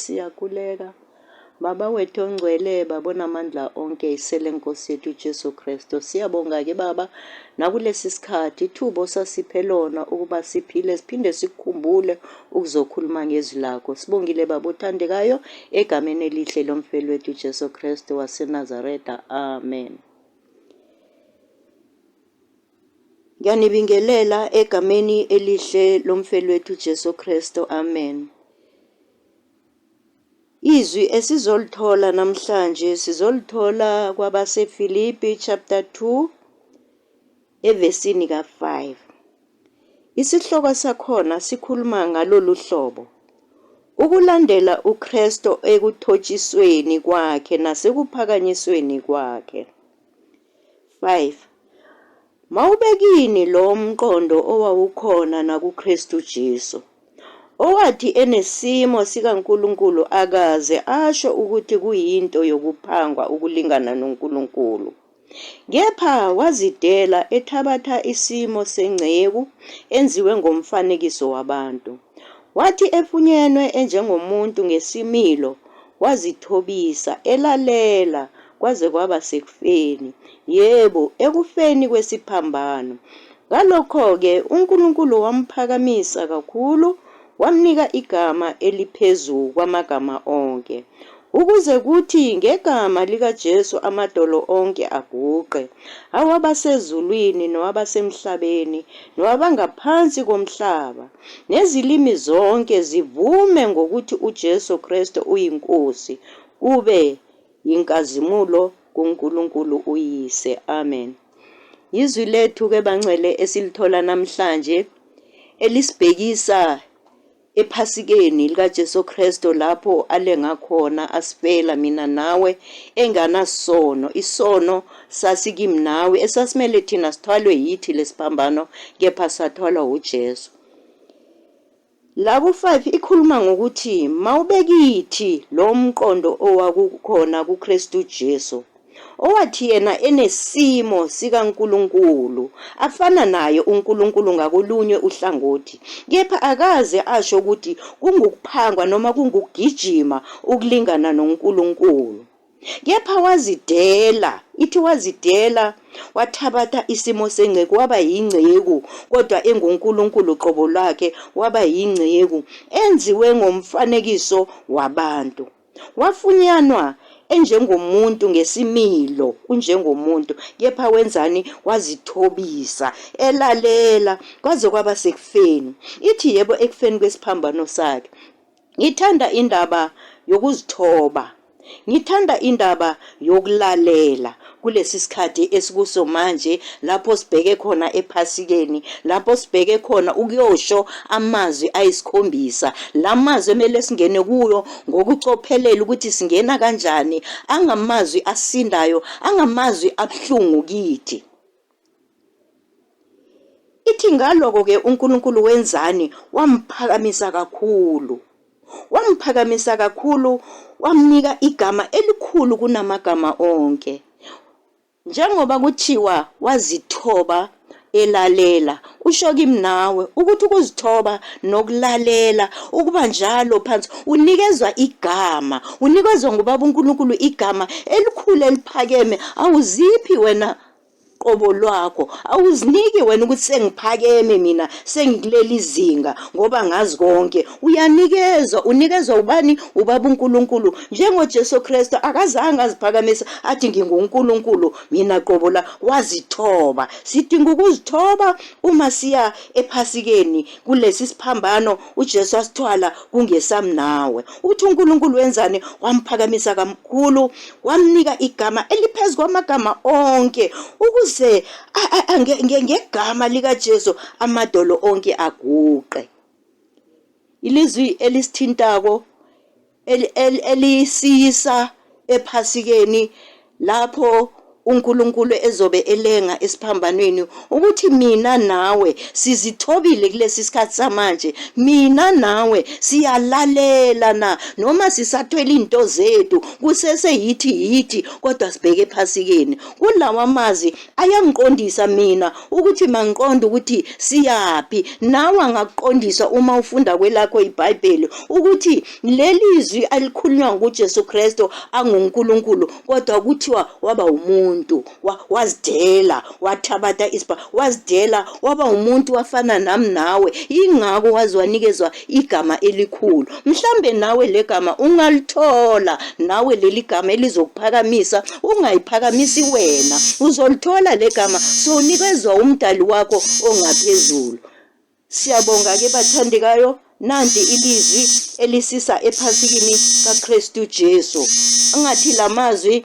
Siyakuleka, Baba wethu ongcwele, Baba onamandla onke, isele Nkosi yethu uJesu Kristu. Siyabonga ke Baba nakulesi sikhathi ithuba osasiphe lona ukuba siphile siphinde sikukhumbule ukuzokhuluma ngezwi lakho. Sibongile Baba othandekayo egameni elihle lomfeli wethu uJesu Kristu waseNazaretha. Amen. Ngiyanibingelela egameni elihle lomfelwethu Jesu Kristo. Amen. Izwi esizolithola namhlanje sizolithola kwabaseFilipi chapter 2 evesini ka-5. Isihloko sakhona sikhuluma ngalolu hlobo. Ukulandela uKristu ekuthotshisweni kwakhe nasekuphakanyisweni kwakhe. 5. Mawube kini lowo mqondo owawukhona nakuKristu Jesu, owathi enesimo sikaNkulunkulu akaze asho ukuthi kuyinto yokuphangwa ukulingana noNkulunkulu, kepha wazidela ethabatha isimo senceku enziwe ngomfanekiso wabantu. Wathi efunyenwe enjengomuntu ngesimilo wazithobisa elalela kwaze kwaba sekufeni, yebo, ekufeni kwesiphambano. Ngalokho-ke uNkulunkulu wamphakamisa kakhulu wamnika igama eliphezu kwamagama onke. Ukuze kuthi ngegama likaJesu amadolo onke aguqe, awabasezulwini nowabasemhlabeni nowabangaphansi komhlaba, nezilimi zonke zivume ngokuthi uJesu Kristu uyiNkosi, kube yinkazimulo kuNkulunkulu uYise. Amen. Yizwi lethu-ke bangcwele esilithola namhlanje elisibhekisa ephasikeni likaJesu Kristu lapho alenga khona asifela mina nawe enganasono isono sasikimi nawe esasimele thina sithwalwe yithi lesiphambano kepha sathwalwa uJesu Labo 5 ikhuluma ngokuthi mawubekithi lo mqondo owakukhona kuKristu Jesu owathi yena enesimo sikaNkulunkulu afana naye uNkulunkulu ngakolunye uhlangothi kepha akaze asho ukuthi kungukuphangwa noma kungukugijima ukulingana noNkulunkulu kepha wazidela ithi wazidela wathabatha isimo senceku waba yinceku kodwa enguNkulunkulu qobo lwakhe waba yinceku enziwe ngomfanekiso wabantu Wafunyanwa enjengomuntu ngesimilo unjengomuntu kepha wenzani wazithobisa elalela kwaze kwaba sekufeni ithi yebo ekufeni kwesiphambano sakhe ngithanda indaba yokuzithoba ngithanda indaba yokulalela kulesi sikhathi esikuso manje lapho sibheke khona ephasikeni lapho sibheke khona ukuyosho amazwi ayisikhombisa la mazwi emele singene kuyo ngokucophelela ukuthi singena kanjani angamazwi asindayo angamazwi abuhlungu kithi Ithi ngaloko-ke uNkulunkulu wenzani? Wamphakamisa kakhulu. Wamphakamisa kakhulu, wamnika igama elikhulu kunamagama onke. Njengoba kuthiwa wazithoba elalela, kusho kimi nawe ukuthi ukuzithoba nokulalela ukuba njalo phansi unikezwa igama, unikezwa ngubaba uNkulunkulu igama elikhulu eliphakeme, awuziphi wena qobo lwakho awuziniki wena ukuthi sengiphakeme mina sengikuleli zinga ngoba ngazi konke uyanikezwa unikezwa ubani ubaba uNkulunkulu njengoJesu Kristu akazange aziphakamisa athi nginguNkulunkulu mina qobo la wazithoba sidinga ukuzithoba uma siya ephasikeni kulesi siphambano uJesu asithwala kungesami nawe ukuthi uNkulunkulu wenzani wamphakamisa kamkhulu wamnika igama eliphezu kwamagama onke ukuze ngegama likaJesu amadolo onke aguqe ilizwi elisithintako elisiyisa ePhasikeni lapho uNkulunkulu ezobe elenga esiphambanweni ukuthi mina nawe sizithobile kulesi sikhathi samanje mina nawe siyalalela na noma sisathwele into zethu kusese yithi yithi kodwa sibheke ephasikeni kulawa mazi ayangiqondisa mina ukuthi mangiqonde ukuthi siyaphi nawe angakuqondisa uma ufunda kwelakho ibhayibheli ukuthi leli zwi alikhulunywa ngujesu kristu angunkulunkulu kodwa kuthiwa waba umuntu wazidela wathabatha isibha wazidela waba umuntu wafana nami nawe ingako waze wanikezwa igama elikhulu mhlambe nawe legama ungalithola nawe leli gama elizokuphakamisa ungayiphakamisi wena uzolithola legama sonikezwa umdali wakho ongaphezulu siyabonga ke bathandekayo nanti ilizwi elisisa ephasikini kaKristu Jesu angathi lamazwi